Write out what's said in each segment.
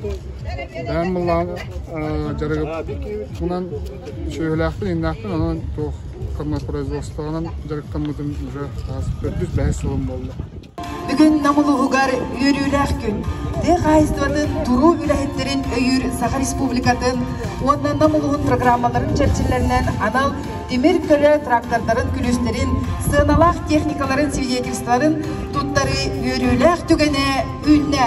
Бэйэм мыллаан дьарыгынан сүөһүлээхпин, иннээхпин, онон туох производствоҕынан дьарыктаммытым уже хас төрдүс бэһис сылым буолла. Бүгүн Нам улууһугар үөрүүлээх күн. Тыа хаһаайыстыбатын туруу үлэһиттэрин өйүүр Саха Республикатын уонна Нам улууһун программаларын чэрчилэринэн анал тимир көлө трактордарын күлүстэрин, сыаналаах техникаларын свидетельстволарын туттарыы үөрүүлээх түгэнэ үүннэ.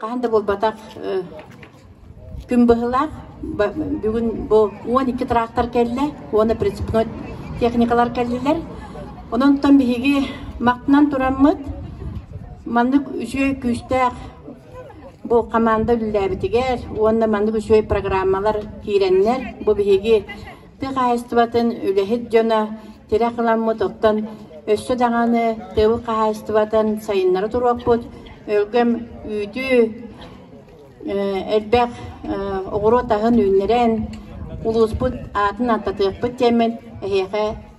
Хаһан да буолбатах күн быһылаах бүгүн бу уон икки трактор кэллэ уонна прицепной техникалар кэллилэр. Ононтон биһиги мактынан тураммыт маннык үчүгэй күүстээх бу хамаанда үлэлээбитигэр уонна маннык үчүгэй программалар киирэннэр бу биһиги тыа хаһаайыстыбатын үлэһит дьоно тирэх ыламмыт оттон өссө даҕаны тыыл хаһаайыстыбатын сайыннара туруохпут өлгөм үүтү элбэх оҕуруот аһын үүннэрэн улууспут аатын аттатыахпыт диэммин эһиэхэ